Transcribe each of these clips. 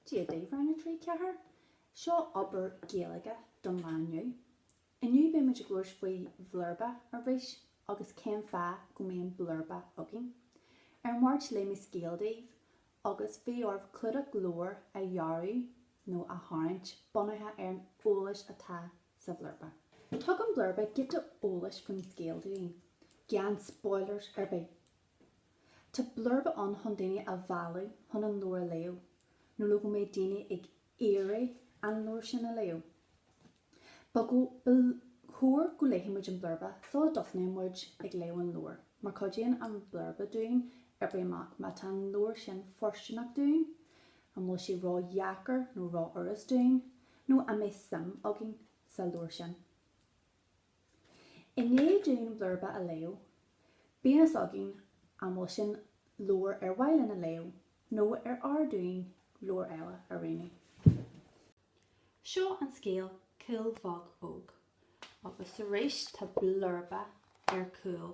Dia daoibh Rang a 3, 4! Seo obair Gaeilge don lá inniu. Inniu beidh muid ag labhairt faoi bhlurba arís agus cén fáth go mbíonn blurba againn. Ar an Mháirt léigh mé scéal daoibh agus bhí oraibh clúdach leabhair a dhearadh nó a tharraingt bunaithe ar an eolais atá sa bhlurba. Tugann blurba giota eolais faoin scéal dúinn, gan spoilers ar bith! Tá blurba ann chun daoine a mhealladh chun an leabhar a léamh, nó le go mbeidh daoine ag iarraidh an leabhar sin a léamh. Ba chóir go léifidh muid an blurba sula dtosnaíonn muid ag léamh an leabhair, mar cuidíonn an blurba dúinn oibriú amach má tá an leabhar sin fóirsteanach dúinn, an bhfuil sé ró-dheacair nó ró-fhurast dúinn, nó an mbeidh suim againn sa leabhar sin. I ndiaidh dúinn blurba a léamh, bíonn a fhios againn an bhfuil sin leabhar ar mhaith linn a léamh nó ar fhearr dúinn leabhar eile a roghnú. Seo an scéal Cuil Bheag Óg agus arís tá blurba ar chúl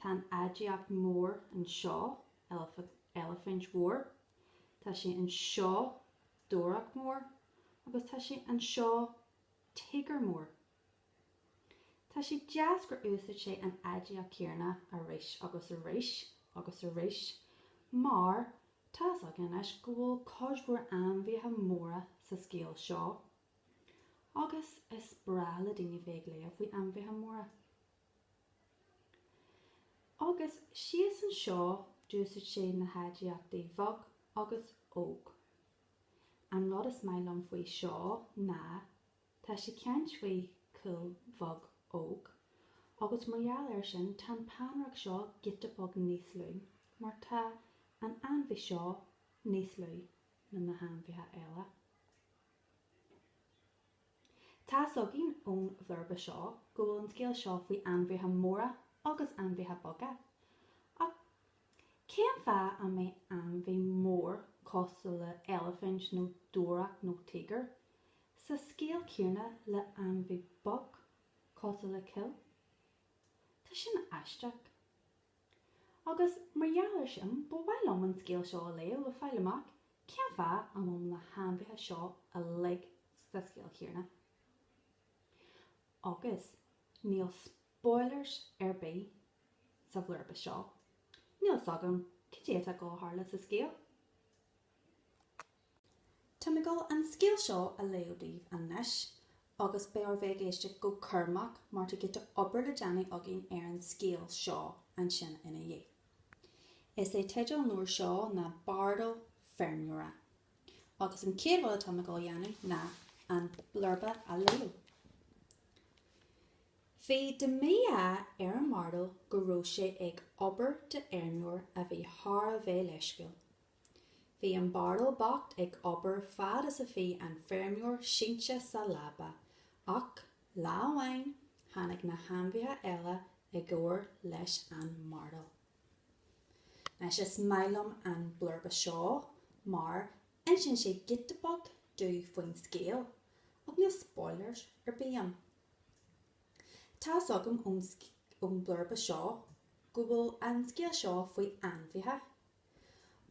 Tá an aidiacht mhór anseo, eilifint mhór. Tá sé anseo, dobhareach mór, agus tá sé anseo, tíogar mór. Tá sé deas gur úsáid sé an aidiacht chéanna arís agus arís agus arís mar tá fhios againn anois go bhfuil cuid mhór ainmhithe móra sa scéal seo agus is breá le daoine bheith ag léamh faoi ainmhithe móra. Agus síos anseo d'úsaid sé na haidiachtaí bheag agus óg. An rud is maith liom faoi seo ná tá sé ag caint faoi Chuil Bheag Óg agus mar gheall ar sin tá an peannaireacht seo giota beag níos lú mar tá an ainmhí seo níos lú ná na hainmhithe eile. Tá's againn ón bhlurba seo go bhfuil an scéal seo faoi ainmhithe móra agus ainmhithe beaga. Ach cén fáth a mbeadh ainmhí mór cosúil le eilifint nó dobhareach nó tíogar sa scéal céanna le ainmhí beag cosúil le cuil? Tá sin aisteach. Agus mar gheall ar sin, ba mhaith liom an scéal seo a léamh le fáil amach cén fáth a bhfuil na hainmhithe seo uilig sa scéal chéanna. Agus níl spoilers ar bith sa bhlurba seo, níl 's agam cad é atá ag gabháil a tharlú sa scéal. Tá mé ag dul an scéal seo a léamh daoibh anois agus beidh oraibh bheith ag éisteacht go cúramach mar tá giota obair le déanamh againn ar an scéal seo ansin ina dhiaidh. Is é teideal an leabhair seo ná Bardal Feirmeora agus an chéad rud atá mé ag dul a dhéanamh ná an blurba a léamh. Bhí de mhí-ádh ar an mbardal go raibh sé ag obair d'fheirmeoir a bhí thar a bheith leisciúil. Bhí an bardal bocht ag obair fad is a bhí an feirmeoir sínte sa leaba, ach lá amháin tháinig na hainmhithe eile i gcomhar leis an mbardal. Anois is maith liom an blurba seo mar insíonn sé giota beag domh faoin scéal, ach níl spoilers ar bith ann. Tá fhios agam ón blurba seo go bhfuil an scéal seo faoi ainmhithe,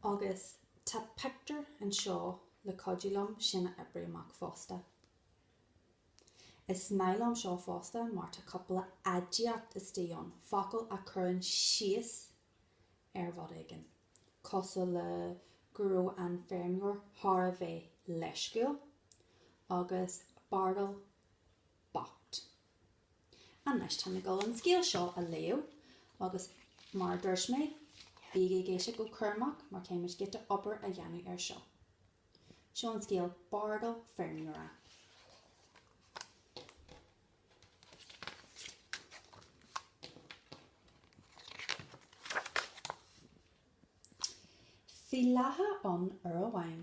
Agus tá pictiúr anseo le cuidiú liom sin a oibriú amach fosta. Is maith liom seo fosta mar tá cúpla aidiacht istigh ann, focail a chuireann síos ar rud éigin, cosúil le go raibh an feirmeoir thar a bheith leisciúil agus bardal bocht. Anois tá mé ag dul an scéal seo a léamh agus mar a dúirt mé bígí ag éisteacht go cúramach mar caithfimid giota obair a dhéanamh air seo. Seo an scéal Bardal Feirmeora. Bhí lacha ann uair amháin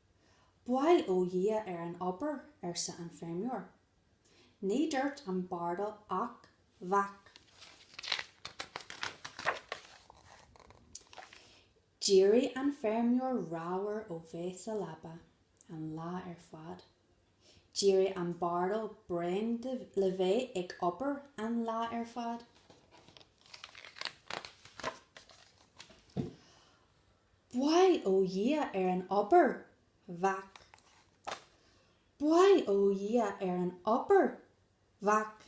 Bail ó Dhia ar an obair, arsa an feirmeoir. Ní dúirt an bardal ach vác. D'éirigh an feirmeoir ramhar ó bheith sa leaba an lá ar fad. D'éirigh an bardal bréan le bheith ag obair an lá ar fad. Bail ó Dhia ar an obair. Vác. Bail ó Dhia ar an obair. Vác.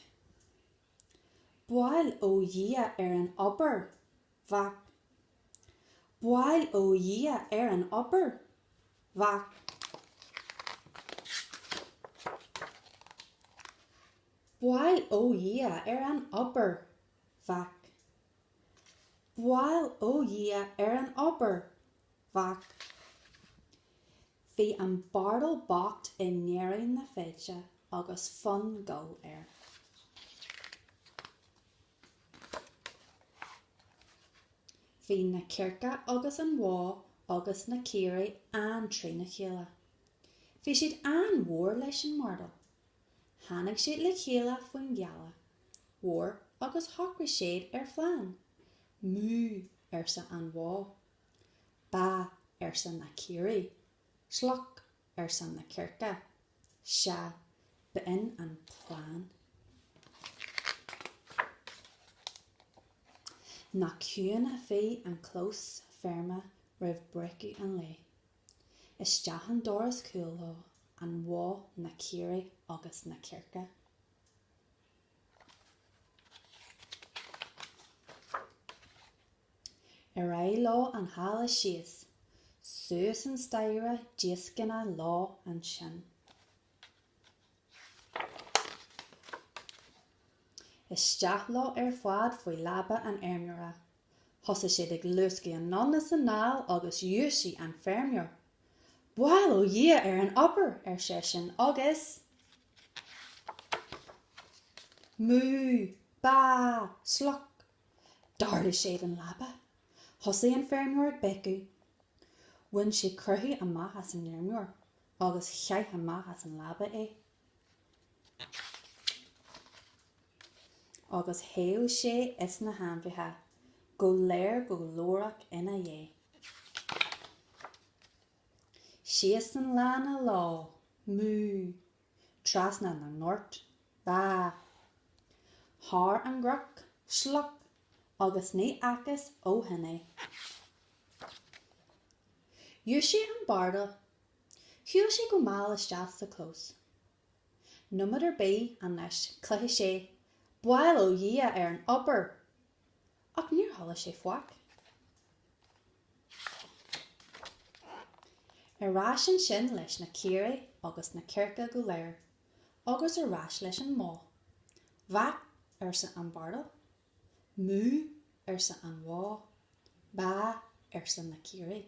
Bail ó Dhia ar an obair. Vác. Bail ó Dhia ar an obair. Vác. Bail ó Dhia ar an obair. Vác. Bail ó Dhia ar an obair bhac. Bhí an bardal bocht i ndeireadh na feide agus fonn goil air. Bhí na cearca agus an bhó agus na caoirigh an-trína chéile. Bhí siad an-mhór leis an mbardal. Tháinig siad le chéile faoin ghealach mhór agus shocraigh siad ar phlean. Mú! arsa an bhó. Ba! arsa na caoirigh. Sloc! arsa na cearca. Sea, b'in an plean. Nach ciúin a bhí an clós feirme roimh breacadh an lae. Isteach an doras cúil leo, an bhó, na caoirigh agus na cearca. Ar aghaidh leo an halla síos, suas an staighre díoscánach leo ansin. Isteach leo ar fad faoi leaba an fheirmeora. Thosaigh siad ag luascadh anonn is anall agus dhúisigh an feirmeoir. Bail ó Dhia ar an obair! ar seisean, agus mú! bá! sloc! d'ardaigh siad an leaba. Thosaigh an feirmeoir ag béiceadh. Bhain siad croitheadh amach as an fheirmeoir agus chaith amach as an leaba é. Agus theith sé is na hainmhithe go léir go glórach ina dhiaidh. Síos an lána leo, mú! Trasna na ngort, bá! Thar an gcnoc, sloc! Agus ní fhacthas ó shin é. Dhúisigh an barda. Shiúil sé go mall isteach sa chlós. Nóiméad ar bith anois chloisfeadh sé bail ó Dhia ar an obair! Ach níor chuala sé faic. Ar ais ansin leis na caoirigh agus na cearca go léir agus ar ais leis an mbó. Bhac, arsa an bardal. Mú, arsa an bhó. Baa, arsa na caoirigh.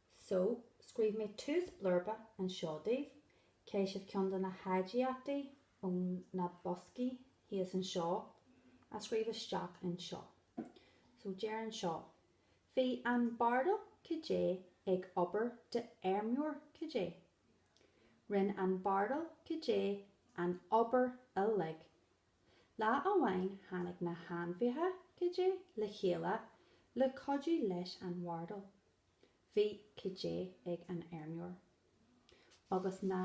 So, scríobh mé tús blurba anseo daoibh, caithfidh sibh ceann de na haidiachtaí ó na boscaí thíos anseo a scríobh isteach anseo. So, deir anseo, Bhí an bardal cad é ag obair d'fheirmeoir cad é. Rinne an bardal cad é an obair uilig. Lá amháin tháinig na hainmhithe cad é le chéile le cuidiú leis an bhardal. Bhí cad é ag an fheirmeoir. Agus na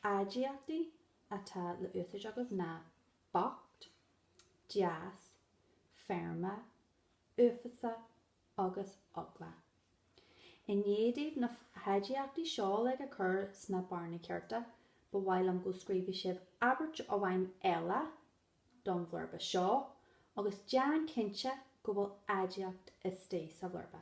h-aidiachtaí atá le úsáid agaibh ná bocht, deas, feirme, uafásach agus eagla. I ndiaidh daoibh na h-aidiachtaí seo uilig a chur sna bearnaí cearta, ba mhaith liom go scríobhfadh sibh abairt amháin eile don bhlurba seo agus déan cinnte go bhfuil aidiacht istigh sa bhlurba.